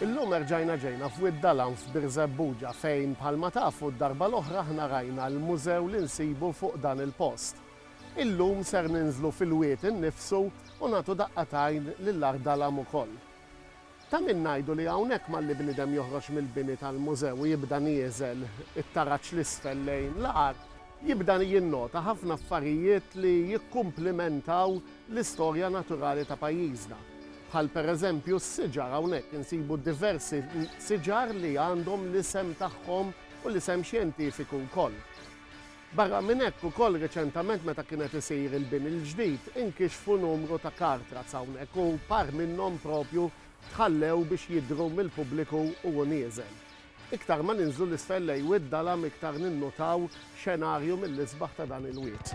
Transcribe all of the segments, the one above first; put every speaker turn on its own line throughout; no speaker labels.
Illum erġajna ġejna f'Wied Dalam f'Birżebbuġa fejn bħalma tafu d-darba l-oħra aħna rajna l-mużew li nsibu fuq dan il-post. Illum ser ninżlu fil-wied innifsu u nagħtu daqqa t'għajn lil Għar Dalam ukoll. Ta' min ngħidu li hawnhekk malli bniedem joħroġ mill-bini tal-mużew u jibda nieżel it-taraġ 'l isfel lejn l-għar, jibda jinnota ħafna affarijiet li jikkumplimentaw l-istorja naturali ta' pajjiżna. Bħal pereżempju s-siġar, hawnhekk insibu diversi siġar li għandhom l-isem tagħhom u l-isem xjentifiku wkoll. Barra minn hekk ukoll reċentament meta kien qed isir il-bini l-ġdid inkixfu numru ta' car tracks hawnhekk u par minnhom propju tħallew biex jidhru mill-pubbliku u hu nieżel. Iktar ma ninżlu 'l isfel lejn Wied Dalam iktar ninnutaw xenarju mill-isbaħ ta' dan il-wied.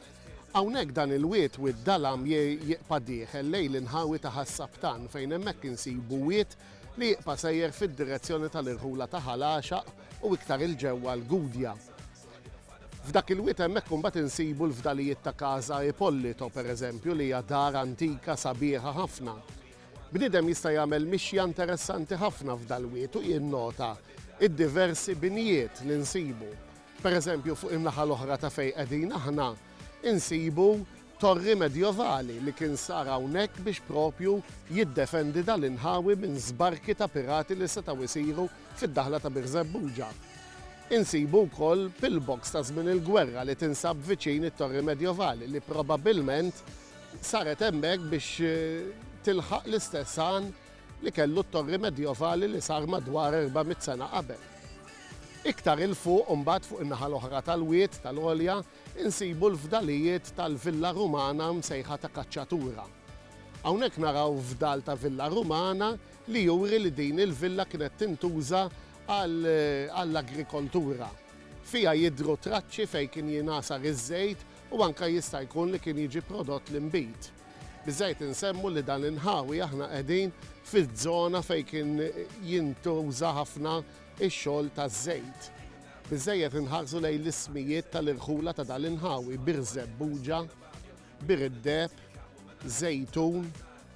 Hawnhekk dan il-wied, Wied Dalam, jiqpa' dieħel lejn l-inħawi ta' Ħas-Sabtan fejn hemmhekk insibu wied li jiqpa' sejjer fid-direzzjoni tal-irħula ta' Ħal Għaxaq u iktar 'il ġewwa l-Gudja. F'dak il-wied hemmhekk imbagħad insibu l-fdalijiet ta' Casa Ippolito, pereżempju, li hija dar antika sabiħa ħafna. Bniedem jista' jagħmel mixja interessanti ħafna f'dal-wied u jinnota d-diversi binjiet li nsibu. Pereżempju, fuq in-naħa l-oħra ta' fejn qegħdin aħna, insibu torri medjevali li kien sar hawnhekk biex propju jiddefendi dal-inħawi minn żbarki ta' pirati li setgħu jsiru fid-daħla ta' Birżebbuġa. Insibu wkoll pillbox ta' żmien il-gwerra li tinsab viċin it-torri medjevali li probabbilment saret hemmhekk biex tilħaq l-istess għan li kellu t-torri medjovali li sar madwar 400 sena qabel. Iktar 'il fuq imbagħad fuq in-naħa l-oħra tal-wied tal-għolja insibu l-fdalijiet tal-villa Rumana msejħa ta' Cacciatura. Hawnhekk naraw fdal ta' villa Rumana li juri li din il-villa kienet tintuża għall-agrikoltura. Fiha jidhru traċċi fejn kien jingħasar iż-żejt u anke jista' jkun li kien jiġi prodott l-inbid. Biżżejjed insemmu li dan l-inħawi aħna qegħdin fiż-żona fejn kien jintuża ħafna x-xogħol taż-żejt. Biżżejjed inħarsu lejn l-ismijiet tal-irħula ta' dan l-inħawi, Bir Żebbuġa, Bir id-Deheb, Żejtun,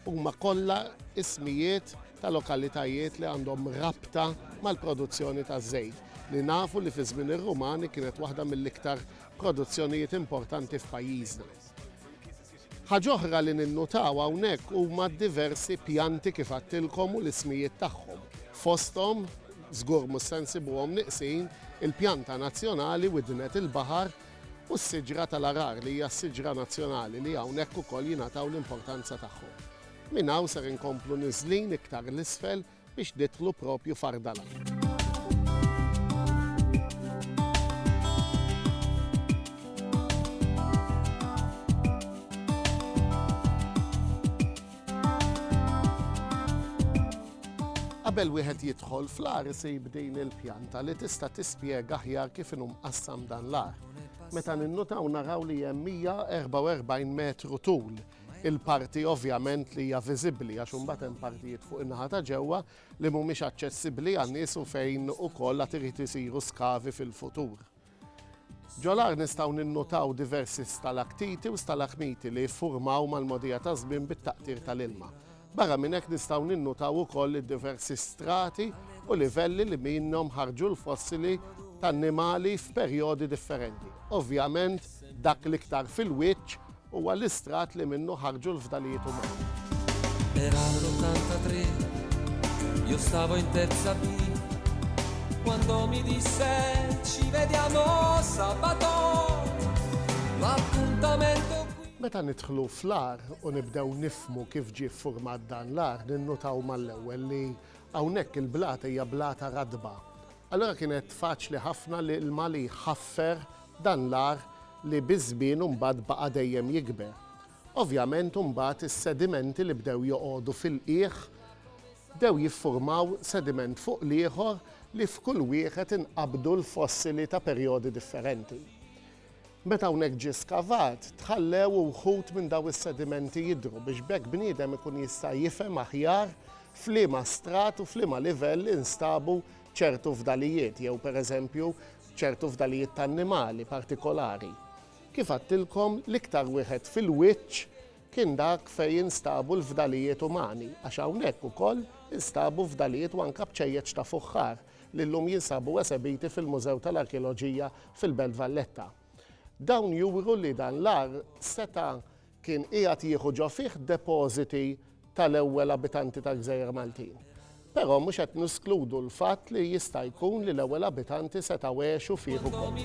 huma kollha ismijiet ta' lokalitajiet li għandhom rabta mal-produzzjoni taż-żejt li nafu li fi żmien ir-Rumani kienet waħda mill-iktar produzzjonijiet importanti f'pajjiżna. Ħaġa oħra li ninnutaw hawnhekk huma d-diversi pjanti kif għedtilkom u l-ismijiet tagħhom. Fosthom, żgur mhux se nsibuhom nieqsin, il-pjanta nazzjonali widnet il-baħar u s-siġra tal-għarar li hija s-siġra nazzjonali li hawnhekk ukoll jingħataw l-importanza tagħhom. Minn hawn ser inkomplu niżlin iktar 'l isfel biex nidħlu propju f'Ardana. Qabel wieħed jidħol fl-ar isib din il-pjanta li tista' tispjega aħjar kif inhu mqassam dan l-ar. Meta ninnutaw naraw li hemm 144 metru tul il-parti ovvjament li hija viżibbli għax imbagħad hemm partijiet fuq in-naħa ta' ġewwa li mhumiex aċċessibbli għan-nies u fejn ukoll għad irid isiru skavi fil-futur. Ġol-għar nistgħu ninnutaw diversi stalaktiti u stalagmiti li jiffurmaw mal-mogħdija taż-żmien bit-taqtir tal-ilma. Barra minn hekk nistgħu ninnutaw ukoll id-diversi strati u livelli li minnhom ħarġu l-fossili t'annimali f'perjodi differenti. Ovvjament dak l-iktar fil-wiċċ huwa l-istrat li minnu ħarġu l-fdalijiet umani. Era
l'83, io stavo in terza B Quando mi disse ci vediamo sabato L'appuntamento Meta nidħlu
fl-għar u nibdew nifhmu kif ġie ffurmat dan l-għar, ninnutaw mal-ewwel li hawnhekk il-blata hija blata ratba. Allura kienet faċli ħafna l-ilma li jħaffer dan l-għar li biż-żmien u mbagħad baqa' dejjem jikber. Ovvjament u mbagħad is-sedimenti li bdew joqogħdu fil-qiegħ bdew jiffurmaw sediment fuq l-ieħor li f'kull wieħed inqabdu l-fossili ta' perjodi differenti. Meta hawnhekk ġie skavat, tħallew uħud minn daw is-sedimenti jidhru biex b'hekk bniedem ikun jista' jifhem aħjar f'liema strat u f'liema livell instabu ċertu fdalijiet jew pereżempju ċertu fdalijiet ta' annimali partikolari. Kif għadtilkom, l-iktar wieħed fil-wiċċ kien dak fejn instabu l-fdalijiet umani, għax hawnhekk ukoll instabu fdalijiet u anke bċejjeċ ta' fuħħar li llum jinsabu esebiti fil-Mużew tal-Arkeoloġija fil-Belt Valletta. Dawn juru li dan l-għar seta' kien qiegħed jieħu ġo fih depożiti tal-ewwel abitanti tal-Gżejjer Maltin. Però mhux qed neskludu l-fatt li jista' jkun li l-ewwel abitanti setgħu għexu fih ukoll.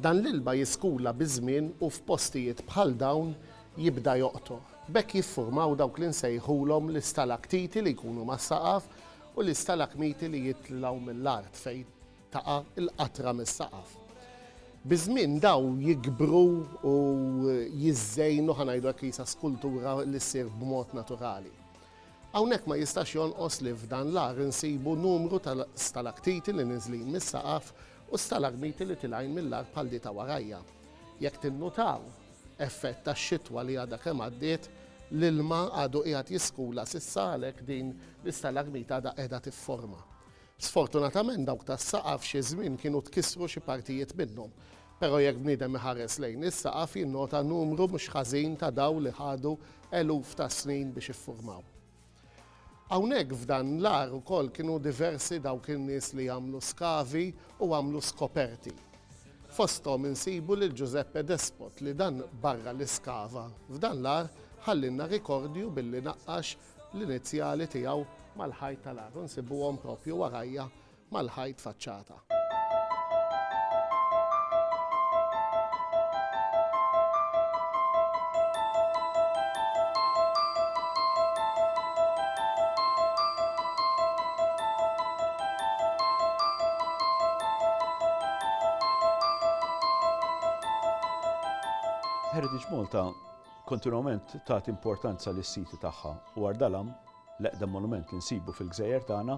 Dan l-ilma jiskula biż-żmien u f'postijiet bħal dawn jibda joqtoq. B'hekk jiffurmaw dawk li nsejħulhom l-istalaktiti li jkunu mas-saqaf u l-istalakmiti li jitlgħu mill-art fejn taqa' l-qatra mis-saqaf. Biż-żmien dawn jikbru u jiżżejnu, ħa ngħidu hekk li sa skultura li ssir b'mod naturali. Hawnhekk ma jistax jonqos li f'dan l-għar insibu numru ta' stalaktiti li niżlin mis-saqaf U stalagmiti li tilgħin mill-art bħal di ta' warajja. Jekk tinnutaw, effett tax-xitwa li għadha kemm għaddiet, l-ilma għadu qiegħed jiskula s'issa għalhekk din l-istalagmita għadha qiegħda tifforma. Sfortunatament dawk tas-saqaf xi żmien kienu tkissru xi partijiet minnhom. Però jekk bniedem iħares lejn is-saqaf jinnota numru mhux ħażin ta' dawl li ħadu eluf ta' snin biex iffurmaw. Hawnhekk f'dan l-għar ukoll kienu diversi dawk in-nies li għamlu skavi u għamlu skoperti. Fosthom insibu lil Ġużeppe Despot li dan barra li skava f'dan l-għar ħallielna rikordju billi naqqax l-inizjali tiegħu mal-ħajt tal-għar u nsibuhom proprju warajja mal-ħajt faċċata.
Heritage Malta kontinwament tagħti importanza lis siti tagħha u Ardalam, l-eqdem monument li nsibu fil-gżejjer tagħna,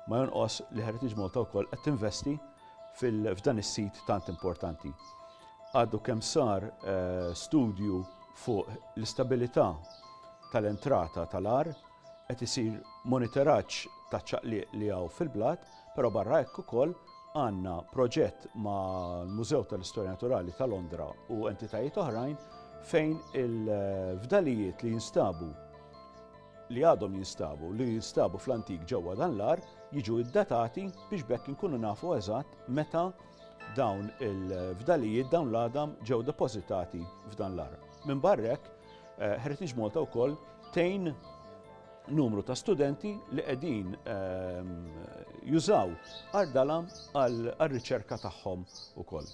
Ma jonqos li Heritage Malta wkoll qed tinvesti f'dan is-sit tant importanti. Għadu kemm sar studju fuq l-istabilità tal-entrata tal-għar, qed isir monitoraġġ taċ-ċaqliq li hawn fil-blat, però barra hekk ukoll għandna proġett mal-Mużew tal-Istorja Naturali ta' Londra u entitajiet oħrajn fejn il-fdalijiet li jinstabu li għadhom jinstabu, li jinstabu fl-antik ġewwa dan l-għar, jiġu iddatati biex bekk inkunu nafu eżatt meta dawn il-fdalijiet dawn l-għadam ġew depożitati f'dan l-għar. Minn barrek, eh, Heritage Malta wkoll tejn numru ta' studenti li qegħdin ehm, jużaw ardalam għal-riċerka tagħhom ukoll.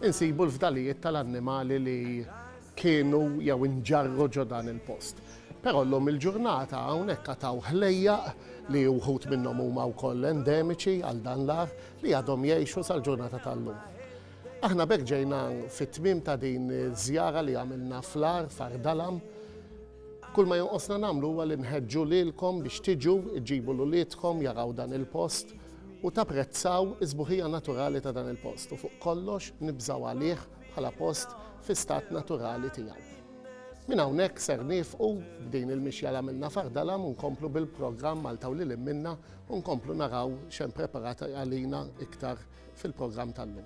Insibu l-fdalijiet tal-annimali li kienu jew inġarru ġo dan il-post. Però llum il-ġurnata hawnhekk għad hawn ħlejjaq li wħud minnhom huma wkoll endemiċi għal dan l-agħar li għadhom jgħixu sal-ġurnata tal-lum. Aħna b'hekk ġejna fit-tmiem ta' din iż-żjara li għamilna fl-agħar f'Għar Dalam. Kull ma jonqosna nagħmlu huwa li nħeġġu lilkom biex tiġu, iġġibu 'l uliedkom jaraw dan il-post, u tapprezzaw is-sbuħija naturali ta' dan il-post u fuq kollox nibżgħu għalih bħala post fi stat naturali tiegħu. Minn hawnhekk ser niefqu b'din il-mixja l-għamilna f'Għar Dalam u nkomplu bil-programm Malta u lil hinn minnha u nkomplu naraw x'hemm preparat għalina iktar fil-programm tal-lum.